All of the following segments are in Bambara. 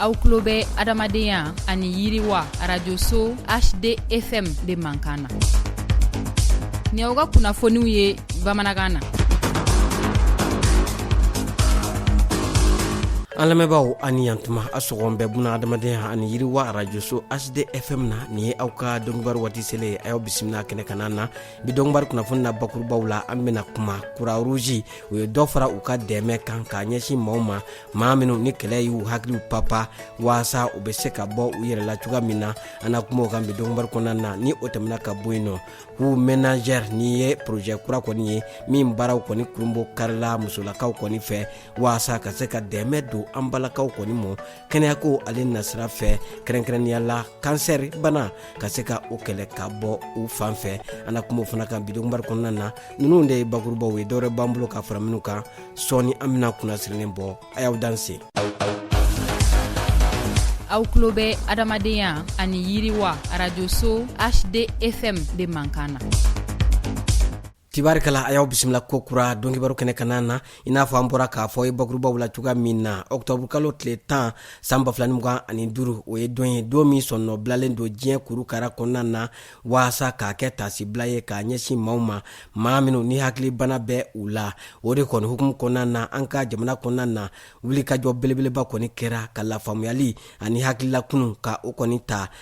aw tulo bɛ adamadenya ani yiriwa arajoso hdfm de mankan na ni aw ka kunnafoniw ye bamanankan na an lamɛnbaaw a ni yan tuma a sɔgɔn bɛɛ buna adamadenya ani yiriwa arajoso hdfm na nin ye aw ka donkibaru waati selen ye a y'aw bisimila kɛnɛ kanna na bi donkibaru kunnafoni na bakurubaw la an bena kuma kuruwaruzi u ye dɔ fara u ka dɛmɛ kan k'a ɲɛsin maaw ma maa minw ni kɛlɛ y'u hakiliw papa waasa u be se ka bɔ u yɛrɛ la cogoya min na an na kuma o kan bi donkibaru kɔnɔna na ni o tɛmɛna ka bɔ yen nɔ k'u menagɛr nin ye porojɛ kura kɔni ye min baaraw kɔni kurunbonkarila musolakaw kɔni fɛ waasa ka se ka dɛmɛ don an balakaw kɔni mɔ kɛnɛyako ale nasira fɛ kɛrɛnkɛrɛnnenya la kansɛri bana ka se ka o kɛlɛ ka bɔ u fan fɛ an na kuma o fana kan bi donkibaru kɔnɔna na ninnu de ye bakurubaw ye dɔwɛrɛ b'an bolo ka fara minnu kan sɔɔni an bɛna kunnasirilen bɔ a y'aw danse aw tulo bɛ adamadenya ani yiriwa arajoso hdfm de mankan na tabarikala a y'aw bisimila kokura donkibaru kɛnɛ kanna na i n'a fɔ an bɔra k'a fɔ ye bakurubaw la cogoya min na ɔktɔburu kalo tile tan san ba fila ni mugan ani duru o ye don ye don min sɔnnɔ bilalen don diɲɛ kurukara kɔnɔna na waasa k'a kɛ taasibila ye k'a ɲɛsin maaw ma maa minw ni hakilibana bɛ u la o de kɔni hukumu kɔnɔna na an ka jamana kɔnɔna na wulikajɔ belebeleba kɔni kɛra ka lafaamuyali ani hakililakunu ka o kɔni ta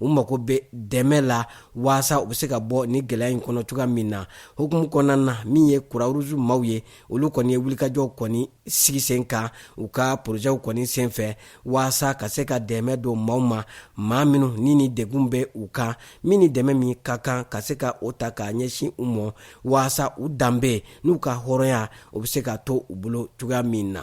u mago bɛ dɛmɛ la waasa u bɛ se ka bɔ nin gɛlɛya in kɔnɔ cogoya min na hukumu kɔnɔna na min ye kuruwaruzu maaw ye olu kɔni ye wulikajɔw kɔni sigi sen kan u ka porozɛw kɔni senfɛ waasa ka se ka dɛmɛ don maaw ma maa minnu ni nin degun bɛ u kan min ni dɛmɛ min ka kan ka se ka o ta k'a ɲɛsin u mɔ waasa u danbe n'u ka hɔrɔnya o bɛ se ka to u bolo cogoya min na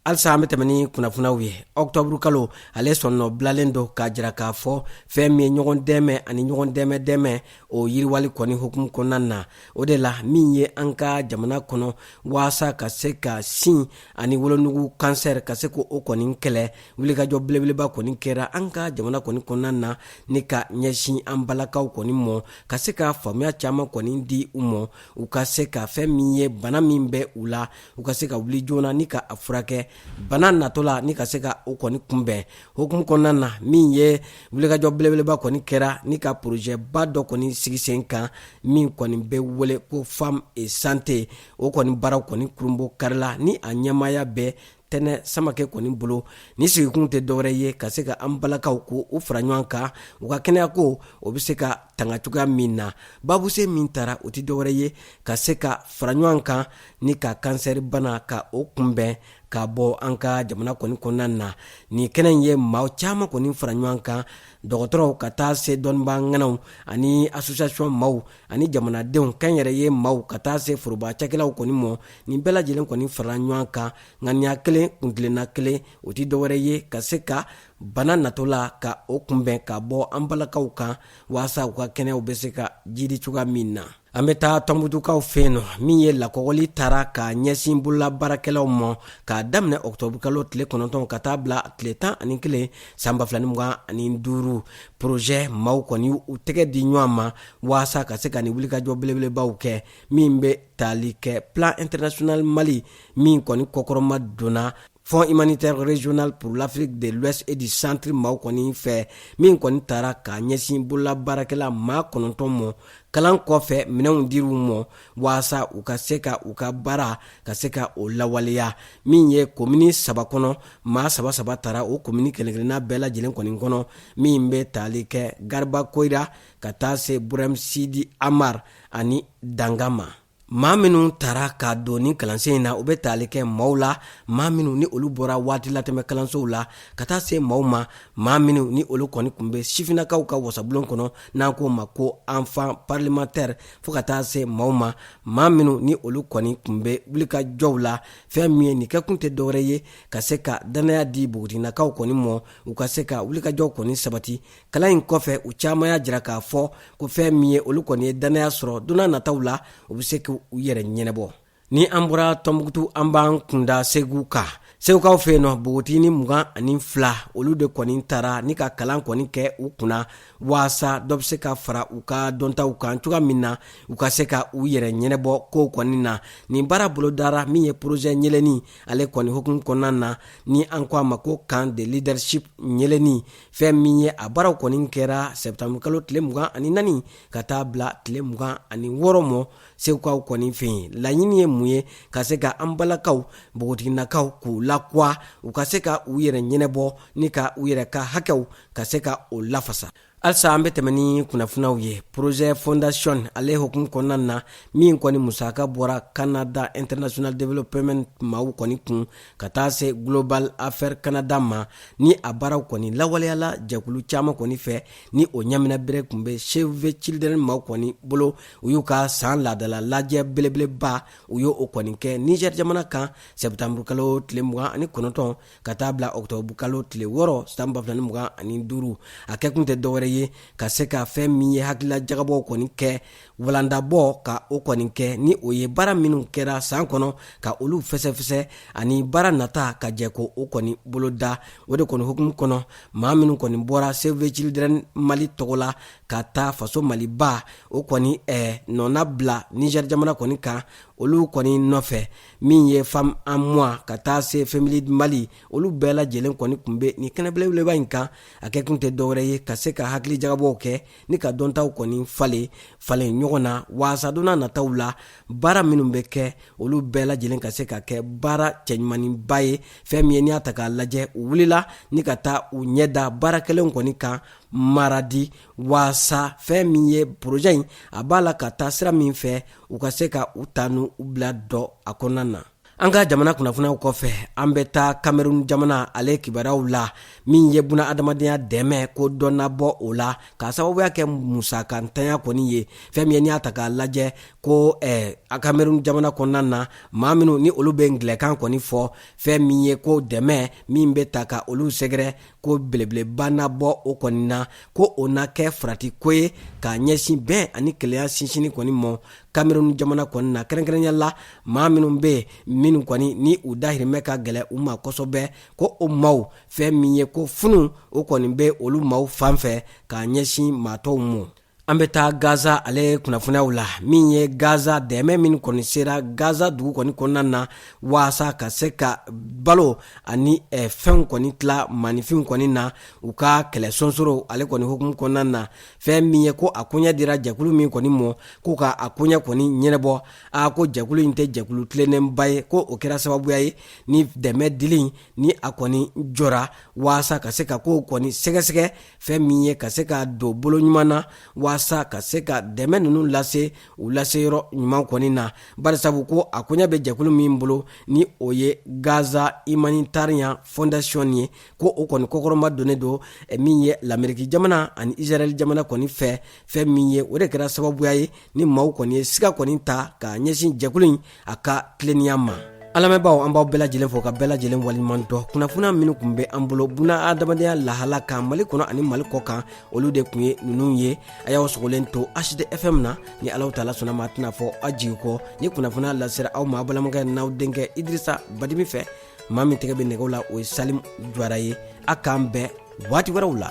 halisa an be tɛmɛ ni kunnafoniw ye ɔktɔburu kalo ale sɔnnɔ bilalen don k'a jira k'a fɔ fɛn min ye ɲɔgɔn dɛmɛ ani ɲɔgɔn dɛmɛ dɛmɛ o yiriwali kɔni hukumu kɔnɔna na o de la min ye an ka jamana kɔnɔ waasa ka se ka sin ani wolonugu kansɛr ka se k'o kɔni kɛlɛ wulikajɔ belebeleba kɔni kɛra an ka jamana kɔni kɔnɔna na ni ka ɲɛsin an balakaw kɔni mɔ ka se ka faamuya caaman kɔni di u mɔ u ka se ka fɛn min ye bana min bɛ u la u ka se ka wuli joona ni ka a furakɛ bana natɔ la ni ka se ka o kɔni kunbɛn hokumu kɔnɔna na min ye wulikajɔ belebeleba kɔni kɛra ni ka porozɛba dɔ kɔni sigi sen kan min kɔni bɛ wele ko femme et santé o kɔni baaraw kɔni kurunbonkarila ni a ɲɛmaya bɛ tɛnɛ samakɛ kɔni bolo ni sigikun tɛ dɔwɛrɛ ye ka se ka an balakaw ko u fara ɲɔgɔn kan u ka kɛnɛya ko o bɛ se ka tanga cogoya min na babuse min tara o tɛ dɔwɛrɛ ye ka se ka fara ɲɔgɔn kan ni ka kansɛri bana ka o kunbɛn ka bɔ an ka jamana kɔni kɔnɔna na nin kɛnɛ in ye maa caman kɔni fara ɲɔgɔn kan dɔgɔtɔrɔw ka taa se dɔnnibaa ŋanaw ani association maaw ani jamanadenw kɛnyɛrɛye maaw ka taa se foroba cakɛlaw kɔni mɔ nin bɛɛ lajɛlen kɔni farala ɲɔgɔn kan ŋaniya kelen kuntilenna kelen o tɛ dɔwɛrɛ ye ka se ka bana natɔ la ka o kunbɛn ka bɔ an balakaw kan waasa u ka kɛnɛyaw bɛ se ka jiidi cogoya min na an bɛ taa tɔnbutukaw fɛ yen nɔ min ye lakɔgɔli tara ka ɲɛsin bolola baarakɛlaw mɔ k'a daminɛ ɔkutɔburukalo tile kɔnɔntɔn ka taa bila tile tan ani kelen san ba fila ni mugan ani duuru porozɛ maaw kɔni u tɛgɛ di ɲɔgɔn ma waasa ka se ka ni wulikajɔ belebelebaw kɛ min bɛ tali kɛ plan international mali min kɔni kɔkɔrɔmadonna fonds humanitaire régional pour l'afrique de l'ouest et du centre maaw kɔni fɛ min kɔni tara ka ɲɛsin bolola baarakɛla maa kɔnɔntɔn mɔ kalan kɔfɛ minɛnw dir'u mɔ waasa u ka se ka u ka baara ka se ka o lawaleya min ye komini saba kɔnɔ maa saba saba tara o komini kelenkelenna bɛɛ lajɛlen kɔni kɔnɔ min bɛ tali kɛ garba koyira ka taa se burɛm sidi amar ani danga ma maa minnu tara ka don ni kalansen in na u bɛ tali kɛ maaw la maa minnu ni olu bɔra waati latɛmɛ kalansow la ka taa se maaw ma maa minnu ni olu kɔni kun bɛ sifinnakaw ka wasabulon kɔnɔ n'an k'o ma ko enfant parlementaire fo ka taa se maaw ma maa minnu ni olu kɔni kun bɛ wulikajɔw la fɛn min ye nin kɛkun tɛ dɔwɛrɛ ye ka se ka dannaya di bogotiginakaw kɔni mɔ u ka se ka wulikajɔw kɔni sabati kalan in kɔfɛ u caman y'a jira k'a fɔ ko fɛn min ye olu kɔni ye dannaya sɔrɔ donna nataw la u be se k'u yɛrɛ ɲɛnabɔ ni an bɔra tɔnbukutu an b'an kun da segu kan segukaw fɛ yen nɔ bogotigini mugan ani fila olu de kɔni tara ni ka kalan kɔni kɛ u kunna waasa dɔ be se ka fara u ka dɔntaw kan cogoya min na u ka se ka u yɛrɛ ɲɛnabɔ kow kɔni na nin baara bolodara min ye porozɛ ɲɛlɛni ale kɔni hokumu kɔnɔna na ni an ko a ma ko camp de leadership ɲɛlɛni fɛn min ye a baaraw kɔni kɛra sɛptanburukalo tile mugan ani naani ka taa bila tile mugan ani wɔɔrɔ mɔ segukaw kɔni fɛ yen laɲini ye mun ye ka se ka an balakaw npogotiginakaw k'u lakuwa u ka se ka u yɛrɛ ɲɛnɛbɔ ni ka u yɛrɛ ka hakɛw ka se ka o lafasa halisa an be tɛmɛ ni kunnafinaw ye projet fondation ale hokumu kɔnɔna na min kɔni musaka bɔra canada international development maw kɔni kun ka taa se global affaire canada ma ni a baaraw kɔni lawaleyala jɛkulu caaman kɔni fɛ ni o ɲamina bere kun be save the children maw kɔni bolo u y'u ka san laadala lajɛ belebeleba u y'o kɔni kɛ niger jamana kan sɛptanburukalo tile mugan ani kɔnɔntɔn ka taa bila ɔktɔbukalo tile wɔɔrɔ san ba fila ni mugan ani duru a kɛkun tɛ dɔwɛrɛ ye ka se ka fɛn min ye hakilila jagabɔw kɔni kɛ walandabɔ ka o kɔni kɛ ni o ye baara minnu kɛra san kɔnɔ ka olu fɛsɛfɛsɛ ani baara nata ka jɛ k'o kɔni boloda o de kɔni hukumu kɔnɔ maa minnu kɔni bɔra save the children mali tɔgɔ la ka taa faso maliba o kɔni eh, nɔna bila niger jamana kɔni kan olu kɔni nɔfɛ min ye femme en moi ka taa se femilead mali olu bɛɛ lajɛlen kɔni kun be ni kɛnɛbelebeleba in kan a kɛ kun tɛ dɔwɛrɛ ye ka se ka hakili jagabɔw kɛ ni ka dɔntaw kɔni falen falen ɲɔgɔn na waasa don nataw la baara minnu bɛ kɛ olu bɛɛ lajɛlen ka se ka kɛ baara cɛɲumaninba ye fɛn min ye n'i y'a ta k'a lajɛ u wulila ni ka taa u ɲɛ da baara kɛlenw kɔni kan maradi waasa fɛn min ye porojɛ in a b'a la ka taa sira min fɛ u ka se ka u ta n'u bila dɔn a kɔnɔna na an ka jamana kunnafoniyaw kɔfɛ an bɛ taa kamerun jamana ale kibaruyaw la min ye buna adamadenya dɛmɛ ko dɔ na bɔ o la k'a sababuya kɛ musakantanya kɔni ye fɛn min ye n'i y'a ta k'a lajɛ ko eh, kamerun jamana kɔnɔna na maa minnu ni olu bɛ ngilɛkan kɔni fɔ fɛn min ye ko dɛmɛ min bɛ taa ka olu sɛgɛrɛ ko belebeleba na bɔ o kɔni na ko o na kɛ farati ko ye k'a ɲɛsin bɛn ani kelenya sinsinni kɔni mɔ kamerun jamana kɔni na kɛrɛnkɛrɛnya la maa minnu bɛ minnu kɔni ni u dahirimɛ ka gɛlɛ u ma kosɛbɛ ko o maw fɛn min ye ko funu o kɔni bɛ olu maw fan fɛ k'a ɲɛsin maa tɔw mɔ an bɛ taa gaza ale kunnafoniyaw la min ye gaza dɛmɛ min kɔni sera gaza dugu kɔni kɔnɔna na waasa ka se ka balo ani eh, fɛnw kɔni tila maninfinw kɔni na u ka kɛlɛ sonsoro ale kɔni hukumu kɔnɔna na fɛn min ye ko a koɲɛ dira jɛkulu min kɔni mɔ ko ka a koɲɛ kɔni ɲɛnɛbɔ a ko jɛkulu in tɛ jɛkulu tilennenba ye ko o kɛra sababuya ye ni dɛmɛ dili ni a kɔni jɔra waasa ka se ka kow kɔni sɛgɛsɛgɛ fɛn min ye ka se ka don bolo ɲuman na waasa ka se ka dɛmɛ ninnu lase u lase yɔrɔ ɲuman kɔni na barisabu ko a koɲa bɛ jɛkulu min bolo ni o ye gaza humanitarian foundation ye ko o kɔni kɔkɔrɔma donnen don eh, min ye lameriki jamana ani israɛl jamana kɔni fɛ fɛn min ye o de kɛra sababuya ye ni maaw kɔni ye siga kɔni ta ka ɲɛsin jɛkulu in a ka tilennenya ma an lamɛnbaaw an b'aw bɛɛ lajɛlen fo ka bɛɛ lajɛlen waleɲuman dɔn kunnafoniya minnu kun bɛ an bolo buna adamadenya lahala kan mali kɔnɔ ani mali kɔ kan olu de kun ye ninnu ye a y'aw sogolen to hdfm na ni alahu taala sɔnna ma a tɛna fɔ aw jigi kɔ ni kunnafoniya lasera aw ma a balimakɛ n'aw denkɛ idrisa badimi fɛ maa min tɛgɛ bɛ nɛgɛw la o ye salim jwara ye a k'an bɛn waati wɛrɛw la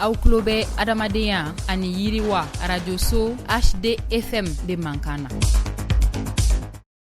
aw tulo bɛ adamadenya ani yiriwa arajoso hdfm de mankan na